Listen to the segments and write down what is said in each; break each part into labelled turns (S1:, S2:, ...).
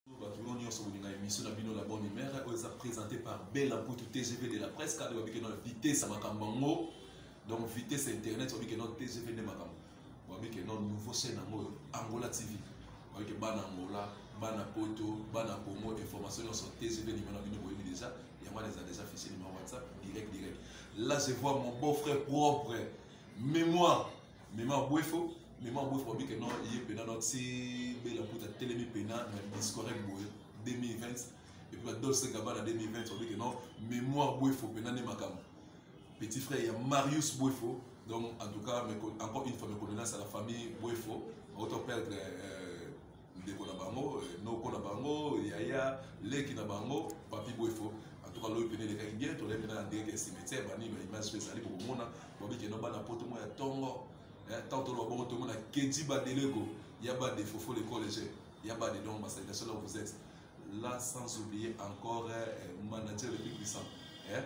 S1: bato bino nyonso kolinga émission na bino la bonne humeur oyo eza présenté par bela mputu tgv de la presse kade babike na vitesse ya makambo yango donc vitesse internet babike no tgv nde makambo babike no nouveau chaîne yango oyo angola tv babike bana angola bana poto bana congo information nyonso tgv nimero na bino boyebi déjà yango wana eza déjà fichier nimero whatsapp direct direct là je vois mon beau frère propre mémoire mema bwefo mema bwefo babi ke non ye mpena no ti bela mputa telemi mpena na discorrect boye 2020 epuis badolce gabana 2020 babi ke non mémoire bwefo mpena nde makambo petit frère ya marius bwefo donc en tout cas encore une fois mes condoléances à la famille bwefo auto perdre euh, ndeko na bango eh, noko na bango yaya leki na bango papi bwefo antuka loyi pene elekaki bien tolai mpena na ndenge ke cimetière bani baimage mpe ezali bokomona babikeno bana poto mwa ya ntongo eh, ntango toloba bongo tomona kedi badelego ya bade fofo le college ya bade donc basalination là où vous êtes là sans oublier encore eh, manager le plus puissant eh,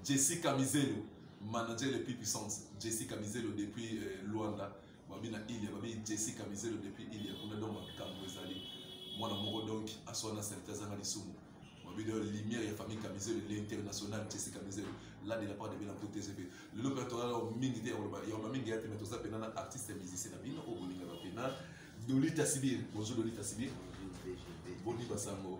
S1: jessica mizelo manager le plus puissante jessica mizelo depuis eh, luanda babi na ile babi jesi kamizelo depuis ile kuna donc makambo ezali mwana moko donc aswa na salite azanga lisumu babi de lumière ya famille kamizelo l'international jesi kamizelo là de la part de bela mpo tgp lelo mpe tozala mingi te ya koloba yamba mingi ya te mais toza mpena na artiste ya musicien na bino oyo bolingaka mpena dolita sibir bonjour dolita sibir boni basango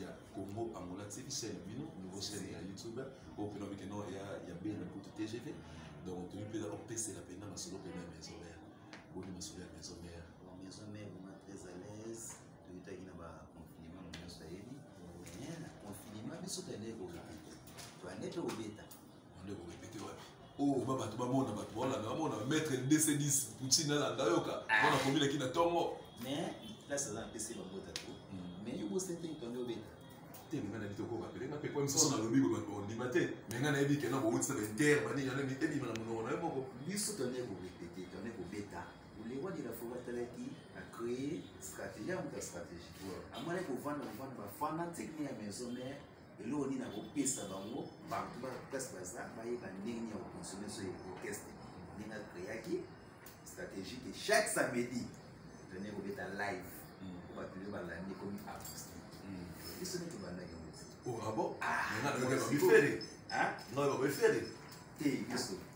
S1: ya congo angola tiki chaîne bino nouveau chaîne ya youtube oyo mpena mike no ya ya bene kutu tgv donc toyi mpena opesela mpena masolo mpena ya maison mère boni masolo ya maison mère maison mère vraiment
S2: très à l'aise toyutaki na baconfinement na nyonso ayebi confinement biso toyende kokita toyende tokobeta ndeko repete
S1: wapi oyo oh, ba bato bamona bato baolanda bamona maître dc10 poutine alanda yoka mpona ah. kobilaki na ntongo mais place
S2: aza na pese bambota to hmm. mais yo bosentei tonde obeta te nga nayebi
S1: tokoka pele nga pepo misusu nalobi boye bato baondima te me nga nayebi kena bowuti na baintere banini yango ebima na monoko na yo moko biso tonde
S2: korepete tonde kobeta lewa de la foret atalaki acree stratégie ya moto ya stratégie amonaki kovanda kovanda bafana tekni ya maison mare eloko nini akopesa bango bantu place baza bayeba ndenge nini ya koconsomme so ya orchestre ndenge akreaki stratégie ke chaque samedi tone kobeta live hmm. po bato nde balandi ekomi acoustique hmm. biso nde tobandaki yango oh, ah ah,
S1: te biso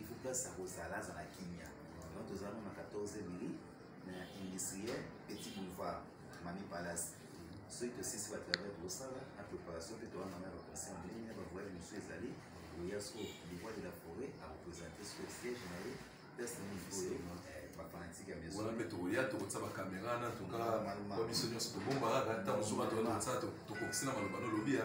S2: il faut place ya kozala azala kimia donc tozala nona 14 mili na industriel petit boulevard mami palace soki tosisi batravers tosala na préparation mpe towana na baconseil ndenge na bavoyage mosusu ezali oya so livois de la forêt arepresente so siège na ye place na niveau oyo bafanatike ya maison wana mpe tokoya tokotisa
S1: bakamera na toka biso nyonso tobomba kaka ntango mosusu bato wana tokokisi na maloba nolobi ya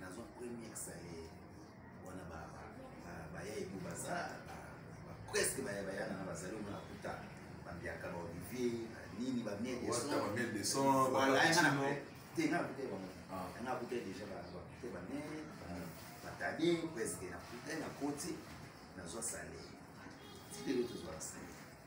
S2: nazwa première salaire wana baya ebu baza presque baya baya nanga bazali omona kuta bambiaka ba olivier nini bamiel desonwalayanganango
S1: te
S2: nga kuta bango nga kuta déjà bakute bamiel batade presque na kuta na koti nazwa salaire ti lelo tozwaka salaire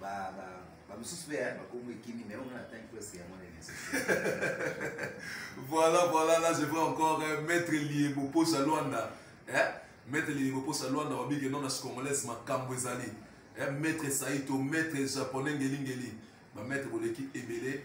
S2: ba ba ba misusu pe ya bakombo ekimi mais on attend presque
S1: ya mwana elesi voilà voilà là je vois encore euh, maître liebo posa luanda eh? maître liebo posa luanda wabike non na congolaise makambo ezali eh? maître saito maître japonais ngelingeli ba maître boleki ebele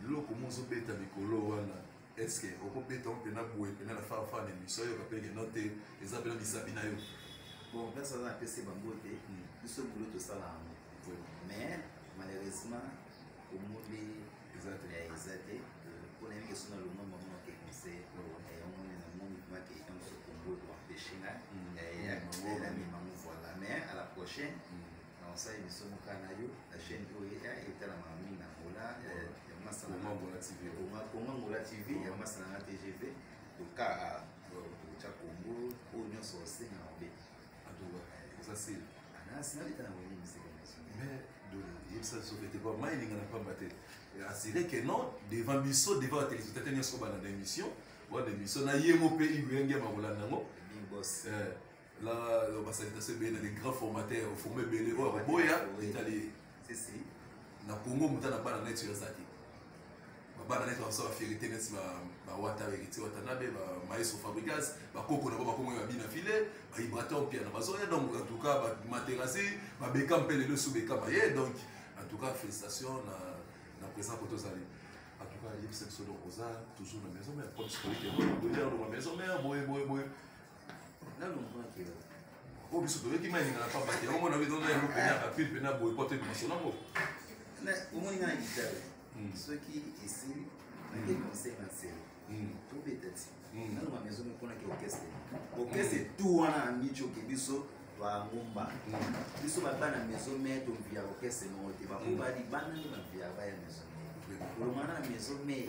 S1: biloko mo ozobeta likolo wana eske okobeta yango mpena boye mpena na farfa na emission oyo kapele keno te eza mpena misapi na yo bon place aza
S2: napesi bango te hmm. biso bulo tosala yango mais malheureusement omoni eza te eh, mpona yenge so na lomoi mamona ke conseil eh, omoni na moni maki yango sokombo ekoempeshe nga yamimango voilà mais à la prochaine hmm. Naosali biso moka na yo na chaîne oyo etalamaka mingi na Angola ya masa na Angola
S1: TV. Konga Angola TV
S2: ya masa na TGV toka tokotya Congo oyo nyonso osenga na obe. Oza
S1: sili. Anasi naleta na
S2: wenge misika nyonso. Mais
S1: de yebisa biso fete kwa mai elinga na pamba te. Asire que non devant biso devant ba téléspectateurs nyonso balanda émission. Wana émission na ye mo mpe iwenge makolanda yango. Big boss. Eh.
S2: Là,
S1: euh, bah, ça a été bien, les grands formateurs, il faut me bêler, oh, boya, italien. Si, si.
S2: Na Congo,
S1: muta na bana net sur Zaki. Ba bana net, on sort la fierté net, ba, ba wata, héritier, wata nabe, ba maestro fabricas, ba koko na ba kongo ya bina filet, ba ibraton pia na bazoya, donc en tout cas, ba materasi, ba bekam pele le sous bekam aye, donc en tout cas, félicitations na, na présent koto zali. En tout cas, il y a une section de Rosa, toujours la maison mère, comme ce que je dis, la maison mère, boye, boye, boye.
S2: nanu omonaki yo oyo biso
S1: toyoki mai elinga na pamba te yango mona biso na yango pene ya bapile pene ya boye po toyeba masolo yango omoni
S2: nga na gitare hmm. soki esili nake hmm. conseil na nsele hmm. tobeta ti nanu ma maison eponaki orchestre orchestre tout wana na mici oke biso twangumba biso babana maison mai tomvia orchestre moko te bakoba libanda nde bavia baya maison mai olongana na maison mai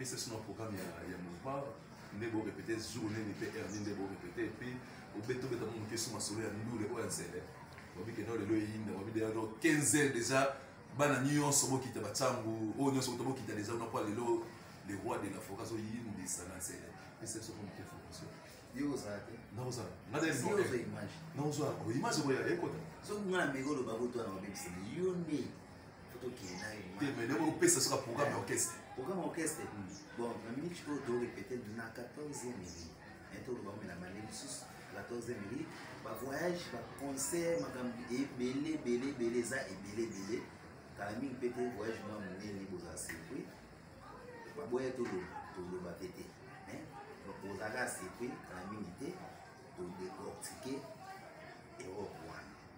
S2: esa sino programme ya,
S1: ya mouvement nde borepete jour nini mpe heure nini nde borepete epe obeta obeta mo moke so masolo ya ndule oyo ya nsele babike nao lelo eyinda babide yano 15 heures déjà bana nyonso bokita batyangu oyo nyonso kuta bokita déjà kuna mpo lelo le roi de la foka azoyindisa na nsele esa biso mpo moke fokuso
S2: nakozala nakozala image
S1: oyo ya ekota soki nga na meko oloba
S2: botwana babebisana yo nde tokende na ye te mais ndenge
S1: opesa soka programme ya orchestre programme ya orchestre
S2: hmm. bon na minute oyo torepete na 14 minute me toloba omela mane mosusu 14 minute bavoyage baconcert makambo ebele ebele ebele eza ebele ebele kala mingi mpe te voyage mwa monene bozala surpris baboya toloba toloba mpe te ozalaka surpris kala mingi te todecortike europe wana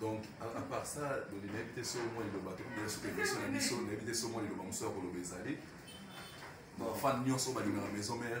S1: donc à part ça loni nayebi te soko mwa liloba tokomi ya soki émission na biso nayebi te soko mwa liloba mosusu ya koloba ezali bafane nyonso balingaka maison mare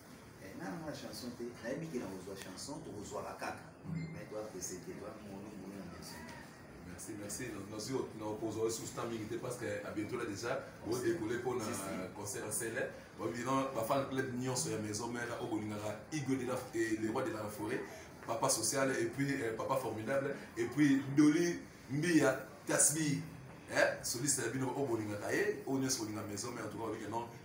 S1: eh, nana mwana
S2: chanson te nayebi ke nakozwa chanson tokozwaka
S1: kaka mai toapeseke toa mono mono na maison merci merci nazwi nakozwa lisusu temps mingi te parce que abientola déjà odekole mpo na concert ya sele babino bafana club nyonso ya maison mère oyo bolingaka igo de la eh, le roi de la forêt papa social et puis eh, papa formidable et puis doli mbiya tasbi eh, soliste ya bino oyo bolingaka ye oyo nyonso bolinga maison mère en tout cas olike non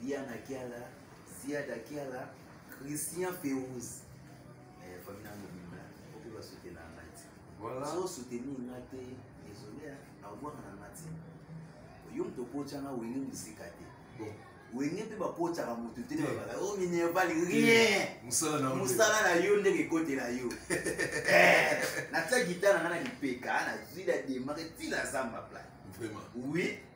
S2: Diana Kiala, Ziada Kiala, Christian Ferouz. Eh, famille na mobimba, okoki ba soutenir na ngai. Voilà. So soutenir ngai te, désolé, na voir na ngai te. Yo mto pocha na wenge musika te. Bon, wenge mpe bapochaka motu te babaka o minerval rien mosala na yo ndenge ekotela yo eh, natia gitana nga na lipeka nazwi na demare ntina zamba pla oui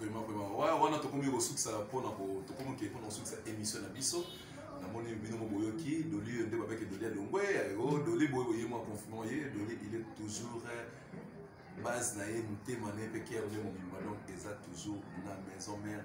S1: vraiment vraiment ouais, wana tokomi kosukisa mpona tokomi ke mpona kosukisa émission na biso namoni bino mo boyoki doli nde babeke doli ya longwe o doli boye boye mwa confinement ye doli il est toujours base na ye motema na ye mpe kere nde mobimba donc eza toujours na maison mare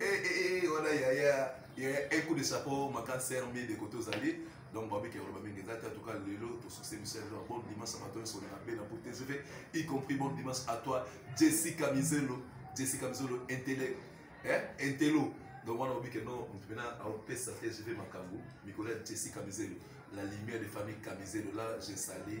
S1: eh, eh, eh, wana yaya un coup de chapeau ma cancer mie de côté ozali donc babiki ya koloba mingi eza te atuka lelo tosukise biso ya lelo bon dimanche ya bato nyonso na be na bote tv y compris bon dimanche à toi jessica mizelo jessica mizelo intele eh? intelo donc wana obi ke no moto mpena aopesa te je vais makambo mikolo ya jessica mizelo la lumière de famille kamizelo là je sali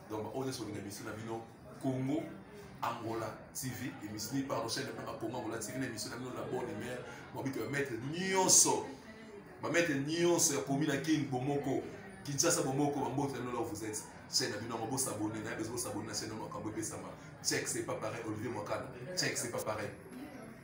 S1: donc baoyo nyonso olinga emission na bino congo angola tv emission pardon chaîne na bino congo angola tv na emission na bino la bonne humeur babiki bamaître nyonso bamaître nyonso ya komi na kin bomoko kinshasa bomoko bambote na bino la vous êtes chaîne na bino yango bosabone na bezo bosabone na chaîne yango makambo epesama check c'est pas pareil olivier mwakana check c'est pas pareil